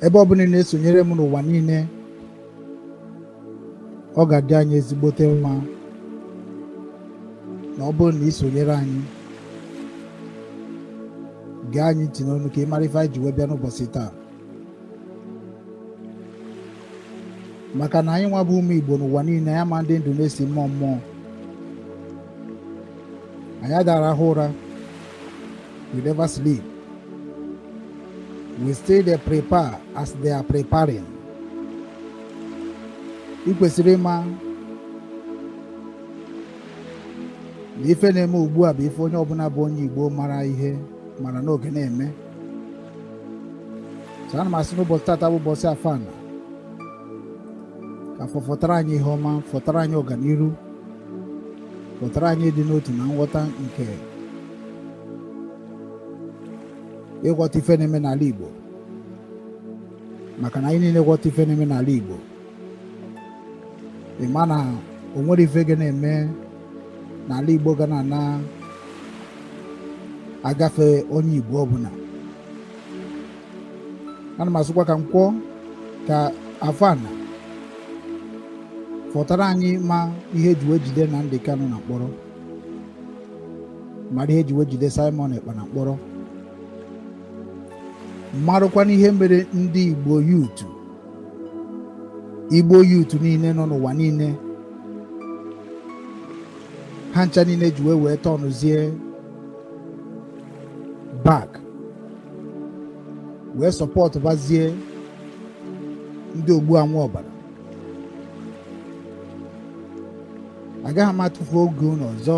ebe ọ bụna ị na-esonyere m n'ụwa niile ọ ga-adị anyị ezigbote mma na ọ bụrụ na ị sonyere anyị gee anyị ntị n'ọnụ ka ị mara ife anyị ji wee bịa n'ụbọchị taa maka na anyị nwa bụ ụmụ Igbo n'ụwa niile anyị ma ndị ndụ na-esi mmụọ mmụọ anyị ada arahụ ụra We never sleep. We still dey prepare as they are preparing. Ị kwesịrị ịma na ife na-eme ugbu a bụ ife onye ọbụna bụ onye Igbo mara ihe mara n'oge na-eme so ana m asị na ụbọsị tata bụ ụbọsị Afọ ana ka Afọ fọtara anyị ihe ọma fọtara anyị ọganiru fọtara anyị ịdị n'otu na nghọta nke ịghọta ife na-eme n'ala Igbo maka na anyị niile ghọta ife na-eme n'ala Igbo ị ma na o nwero ife ga na-eme n'ala Igbo ga na-ana agafe onye Igbo ọbụna ana m asịkwa ka Nkwọ ka Afọ ana fọtara anyị ịma ihe eji wee jide Nnamdi Kanu na mkpọrọ mara ihe eji wee jide Simon Ekpa na mkpọrọ marụkwanụ ihe mere ndị Igbo youth Igbo youth niile nọ n'ụwa niile ha ncha niile ji wee wee turnụzie back wee supportụbazie ndị ogbu anwụ ọbara agaghị m atụfu oge unu ọzọ